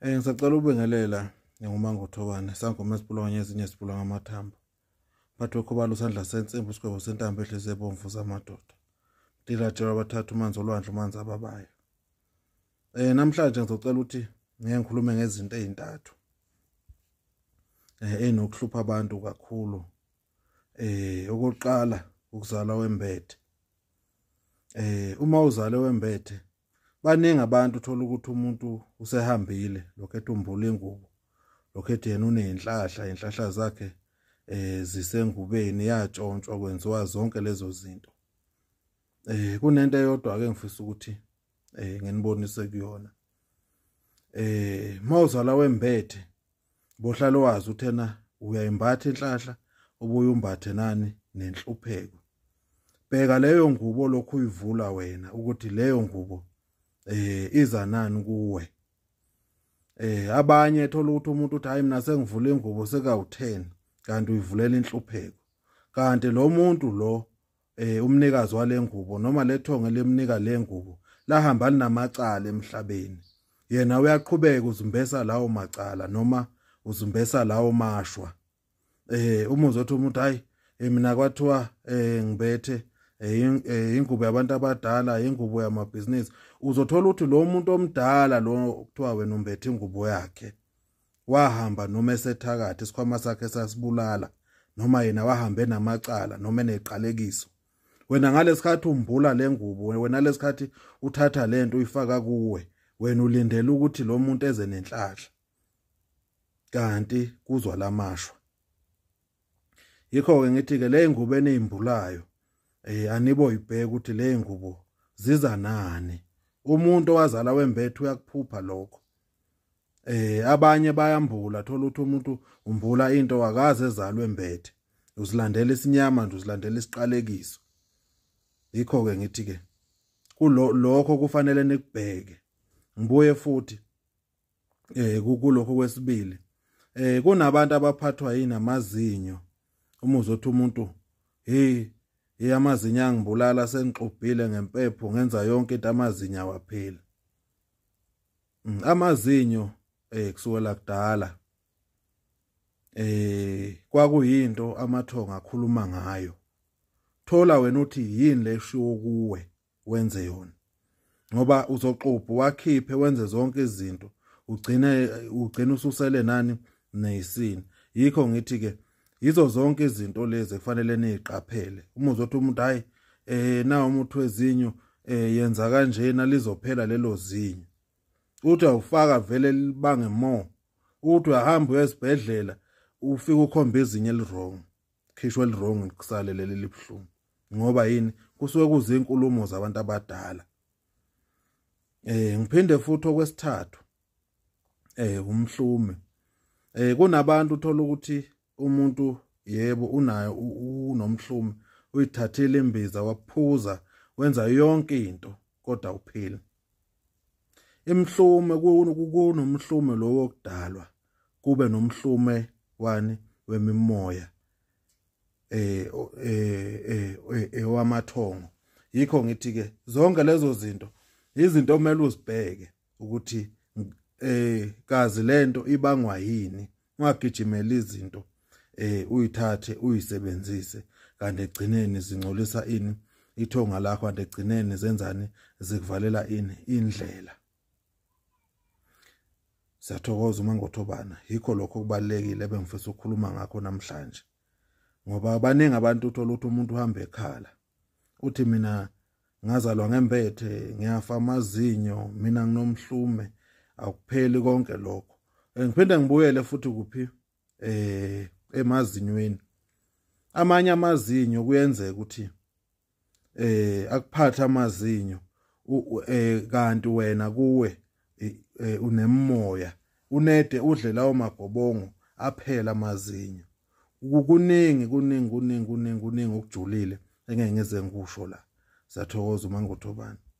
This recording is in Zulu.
Eh ngisacela ukubingelela ngingumanga uthobane sangoma esipulwanye ezinye esipulwa ngamathambo bathi okhobala usandla sensimbi usigwebo sentambo ehlezi ebomvu zamadoda ndilatshelwa abathatha umanzi olwandle umanzi ababayo um namhlanje ngizocela ukuthi ngeke ngikhulume ngezinto ezintathu um eh, eyinokuhlupha abantu kakhulu um okokuqala ukuzalwa wembethe um uma uzale wembethe baningi abantu uthola ukuthi umuntu usehambile lokho ethi umbula ingubo lokho ethi yena uney'nhlahla iy'nhlahla zakhe eh zisengubeni yatshontshwa kwenziwa zonke lezo zinto eh kunento eyodwa ke ngifisa ukuthi eh nginibonise kuyona eh mawuzala wembethe bohlale wazi uthena uyayimbatha inhlahla ubuye umbathe nani nenhlupheko bheka leyo ngubo lokhu uyivula wena ukuthi leyo ngubo eh iza nani kuwe eh abanye thola ukuthi umuntu uthi hayi mina sengivula ingubo sekawu10 kanti uyivulela inhlupheko kanti lo muntu lo eh umnikazi walengubo noma lethonge lemnika lengubo lahamba linamacala emhlabeni yena uyaqhubeka uzumbesa lawo macala noma uzumbesa lawo mashwa eh uma uzothi umuntu hayi eh, mina kwathiwa eh ngibethe Eh, eh, ingubo yabantu abadala ingubo yamabhizinisi uzothola ukuthi lo muntu omdala lo kuthiwa wena umbethe ingubo yakhe wahamba noma esethakathi isikhwama sakhe sasibulala noma yena wahamba enamacala noma eneqalekiso wena ngalesikhathi umbula lengubo wena lesikhathi uthatha lento uyifaka kuwe wena ulindele ukuthi lo muntu eze nenhlahla kanti kuzwa lamashwa yikho ke ngithi ke le ngubo enimbulayo eh anibo ibheke ukuthi le ngubo ziza nani umuntu owazala wembethe uyakuphupha lokho eh abanye bayambula thola ukuthi umuntu umbula into akaze ezalwe mbethe uzilandela isinyama nje uzilandela isiqalekiso yikho ke ngithi ke kulokho kufanele nikubheke ngibuye futhi eh kulokho kwesibili eh kunabantu abaphathwa yini amazinyo uma uzothi umuntu hey hey amazinyo angibulala sengixubhile ngempepho ngenza yonke into amazinyo awapheli Mm, amazinyo eh kusukela kudala eh kwakuyinto amathonga akhuluma ngayo thola wena uthi yini leshiwo kuwe wenze yona ngoba uzoxubha wakhiphe wenze zonke izinto ugcine ugcina ususele nani nesini yikho ngithi ke yizo zonke izinto lezi ekufanele niziqaphele uma uzothi umuntu hayi eh na umuntu wezinyo eh yenza kanjena lizophela lelo zinyo uthi awufaka vele libange more uthi uyahamba uyesibhedlela ufika ukhomba izinyo elirong khishwe elirong kusale leli libuhlungu ngoba yini kusuke kuzinkulumo zabantu abadala eh ngiphinde futhi okwesithathu eh umhlume eh kunabantu uthola ukuthi umuntu yebo unayo unomhlume uyithathile imbiza waphuza wenza yonke into kodwa uphila imhlume kunomhlume lowo kudalwa kube nomhlume wani wemimoya eh eh ewamathongo eh, eh, yikho ngithi ke zonke lezo zinto izinto omele uzibheke ukuthi eh kazi lento ibangwa yini ungagijimela izinto eh uyithathe uyisebenzise kanti egcineni zingcolisa ini ithonga lakho kanti egcineni zenzani zikuvalela ini indlela Siyathokoza uma ngothobana yikho lokho kubalekile ebengifisa ukukhuluma ngakho namhlanje ngoba abaningi abantu uthola ukuthi umuntu uhamba ekhala uthi mina ngazalwa ngembethe ngiyafa amazinyo mina nginomhlume akupheli konke lokho eh, ngiphinde ngibuyele futhi kuphi eh emazinyweni amanye amazinyo kuyenzeka ukuthi eh akuphatha amazinyo eh kanti wena kuwe e, e, unemoya unede udle lawo magobongo aphela amazinyo kuningi kuningi kuningi kuningi kuningi okujulile engeke ngize ngikusho la siyathokoza uma ngotobani